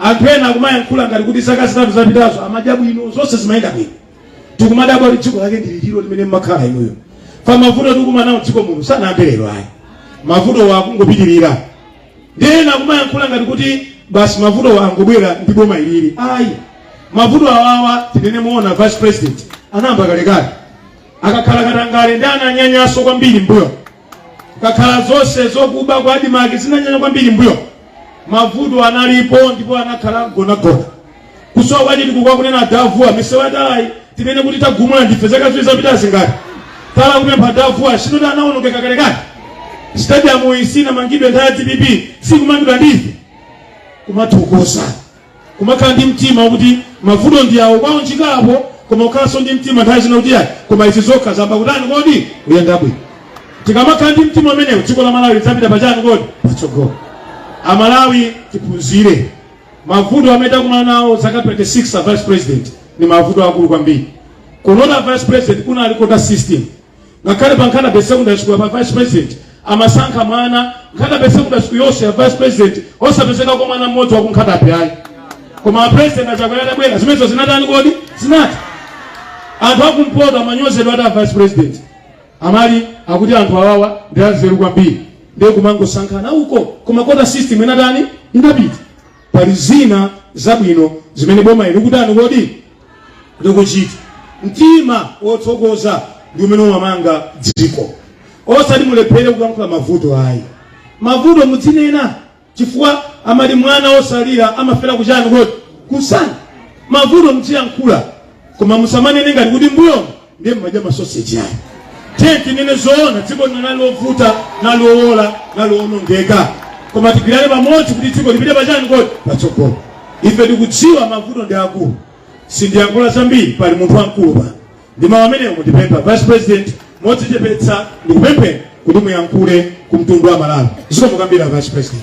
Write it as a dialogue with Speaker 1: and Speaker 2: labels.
Speaker 1: anthu ena akumayankhula ngati kuti zaka zitatu zapitazo amadya bwino zonse zimayenda bwino tikumadabwa kuti dziko lake ndi liti lilo limene mmakhala inuyo pa mavuto tikumana nawo dziko muno sanayambe lero ayi mavutowa akungopitirira ndiye ena akumayankhula ngati kuti basi mavutowa angobwera ndi boma ilili ayi mavuto awawa tinene moona vice president anayamba kalekale akakhala katangale ndiye ananyanyanso kwambiri m'mbuyo Kukakhala zonse zokuba kwa Admarc zinanyanya kwambiri m'mbuyo, mavuto analipo ndipo anakhala mgonagona. Kusowa kwa chitukuko akunena a Davuwa misewu yatalayi tinene kuti tagumula ndife zaka ziwiri zapitazi ngati tala kupempha a Davuwa si ndiye anawonongeka kalekale. Stadium iyi sinamangidwe nthawi ya dpp sikumangidwa ndife kumathokoza Kumakhala ndi mtima wakuti mavuto ndi awo kuwaunjika apo, koma kukhalanso ndi mtima nthawi zina kuti ayi, koma izi zokha zayamba kutani kodi kuyenda bwino. Tikamakhala ndi mtima umenewu, dziko la Malawi lidzapita pachani kodi patsogolo. Amalawi tiphunzire mavuto amene takumana nawo zaka 26 a vice president ni mavuto akulu kwambiri. Kuno a vice president kunali quota system ngakhale pa Nkhata Bay secondary school apa vice president amasankha mwana Nkhata Bay secondary school yonseyi a vice president osapezeka kwa mwana mmodzi wa ku Nkhata Bay ayi koma a president a Chakwera atabwera zimenezo zinatani kodi zinatha anthu akumpoto amanyozedwa ati a vice president amati akuti anthu awawa ndi anzeru kwambiri ndiye kumangosankhana uko koma quota system inatani inapita pali zina zabwino zimene boma ili likutani kodi likuchita mtima wothokoza ndi umene umamanga dziko osati mulephere kulankhula mavuto ayi mavuto mudzinena chifukwa amati mwana wosalira amafera kuchani kodi kumsana mavuto mudziyankhula koma musamanene ngati kuti mbuyomo ndiye mmadya masoseji ayi tiye tinene zoona dziko lino linali lovuta linali lowola linali lowonongeka koma tigwirane pamodzi kuti dziko lipite pachani kodi patsogolo ife tikudziwa mavuto ndi akulu sindiyankhula zambiri pali munthu wamkulu apa ndi mawu amenewo ndipempha vice president modzichepetsa ndikupempheni kuti muyankhule ku mtundu wa malawi zikomo kwambiri a vice president